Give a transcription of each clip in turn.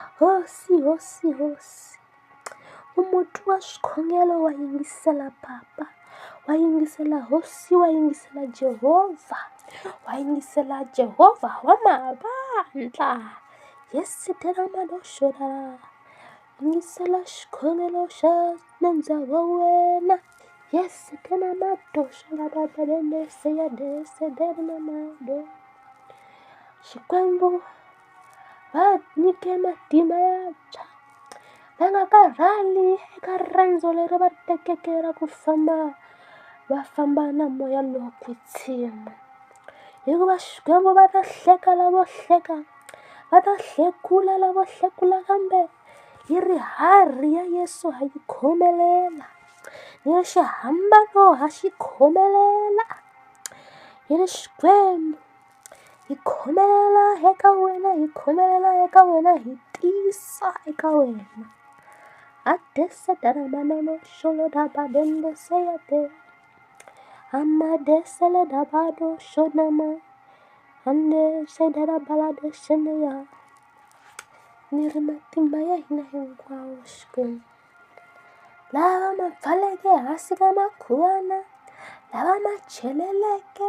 Hosi, hosi, hosi. U muti wa swikhongelo wa yingisela papa, wa yingisela hosi, wa yingisela Jehovha, wa yingisela Jehovha wa mavandla. Yesu tela madoxora. Yingisela xikhongelo xa nandza wa wena. Yesu tela madoxora baba lelese ya dese dela mado. Xikwembu va nyike matimba ya ntshwa va nga karhali eka riendzo leri va ri tekeke ra ku famba va famba na moya lowo kwetsima hikuva Xikwembu va ta hleka lavo hleka va ta hlekula lavo hlekula kambe yi ri harhi ya Yeso ha yi khomelela ni ya xihambano ha xi khomelela hi Xikwembu. hi khomelela eka wena hi khomelela eka wena hi tisa eka wena a dese dara manana xolo da ba dende se ya te a ma dese le da ba do xona ma ande se dara bala de xene ya ni ri matimba ya hina hinkwawo xikwembu lava ma pfaleke hansi ka makhuwana lava ma cheleleke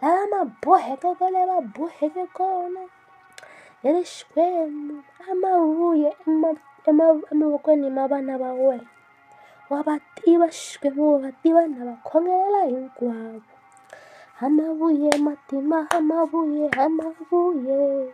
lava ma boheke kwale va boheke kona hi ri Xikwembu a ma vuye emavokweni ma vana va wena wa va tiva Xikwembu wa va tiva na va khongelela hinkwavo a ma vuye matimba a ma vuye a ma vuye.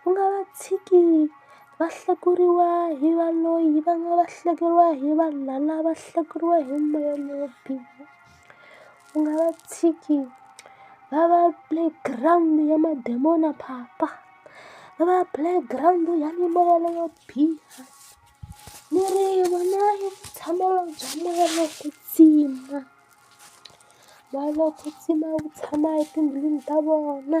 Ku nga va tshiki va hlekuriwa hi va loyi va nga va hlekuriwa hi vanhu lava va hlekuriwa hi moya lowo biha u nga va tshiki va va playground ya madimoni phapa va va playground ya mimoya leyo biha miri yi vona yi tshamela bya moya wa ku kwetsima moya wa ku kwetsima wu tshama etindlwini ta vona.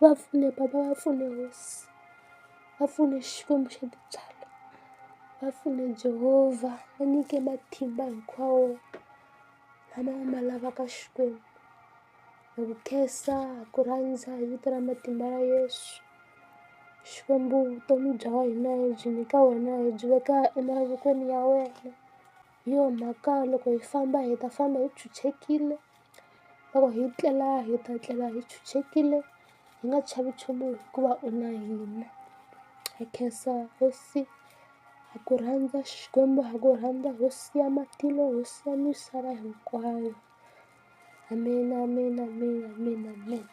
va pfune bava va pfune hosi va pfune Xikwembu xa tintswalo va pfune Jehova va nyike matimba hinkwawo lama ma lavaka Xikwembu hi ku khensa hi ku rhandza hi vito ra matimba ya Yeso Xikwembu vutomi bya wena hi byi nyika wena hi byi veka emavokweni ya wena hi yo mhaka loko hi famba hi ta famba hi chuchekile. loko hi tlela hi ta tlela hi chuchekile hi nga chavi nchumu hikuva u na hina ha khensa hosi ha ku rhandza Xikwembu ha ku rhandza hosi ya matilo hosi ya misava hinkwayo ameni ameni ameni ameni ameni.